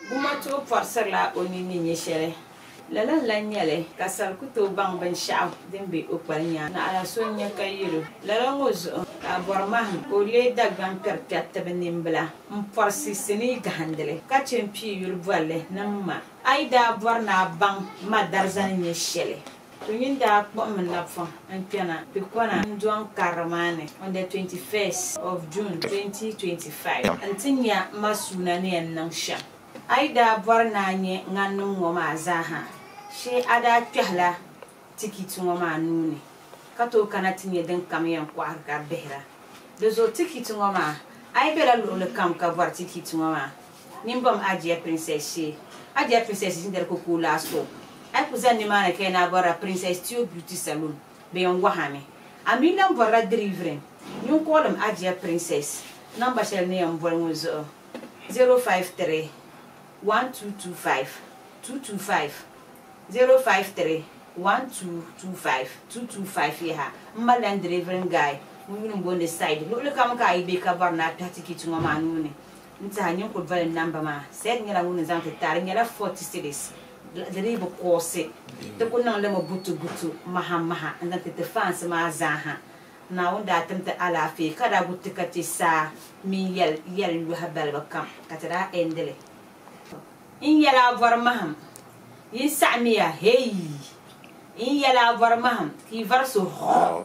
Gumachuɣu pɔrisirila o nini ni nyɛ shɛli. Lala n-lahi nya li ka sal ku tooi baŋ binshɛɣu din be o kpali nyaanga. Naɣila so n-nya ka yɛl o, Lala ŋɔ zuɣu ka a bɔri mahim ka o leei Dagbaŋ kpɛri kpɛriti bɛ nimbila m-pɔrisi sinii gahindili ka chɛ m-pii yuli bɔri li ni m ma. A yi daa bɔri ni a baŋ ma darzani nyɛ shɛli, To nyin daa kpuɣimi nabifuŋ n kpɛna ti kɔna Ndɔŋ karili maa ni on the 21st of June 2025 n ti nya m ma suuna ni yɛn niŋ shɛm. A yi daa bɔri ni a nya ŋaninim ŋɔ maa zaa ha shee a daa kpɛhila tikiti ŋɔ maa nuu ni ka tooi kana ti nya din kam yɛn kɔhiri ka bihira. Di zuɣu tikiti ŋɔ maa, a yi bela luɣili kam ka bɔri tikiti ŋɔ maa, Nyin bɔm a dear princess shee. A dear princess ʒin dari koko laa so. A yi ku zani nimaani ka yi naa bɔrila Princess Teo Beauty Saloon, bɛ yɛn waɣa mi. A mi lan bɔrila dirivirin nyin kɔɔlim a dear princess namba shɛli ni yɛn boli ŋɔ zuɣu, 053 1225 225, 053 1225 225 yaha. M malila n dirivirin guy ŋun yuli m-booni Said. Luɣilikam ka a yi be ka bɔri ni a kpɛhi tikiti ŋɔ maa nuu ni, N tiɛha ninkuri doli namba maa. Said nyɛla ŋun ni zaŋ ti taai. Di nyɛla forty cities. Di dii bi koosɛ. Ti ku niŋ li mi butu butu, maha maha n-zaŋ ti ti faansi maa zaa ha. Naawuni daa tim ti alaafee ka daa gu ti ka ti saa mini yɛl yɛl yɔhi balibu kam ka ti daa endi li. N yɛla a vɔri mahim, yin saɣimiya, heeyii! N yɛla a vɔri mahim, ka yi vari so, hɔɔh!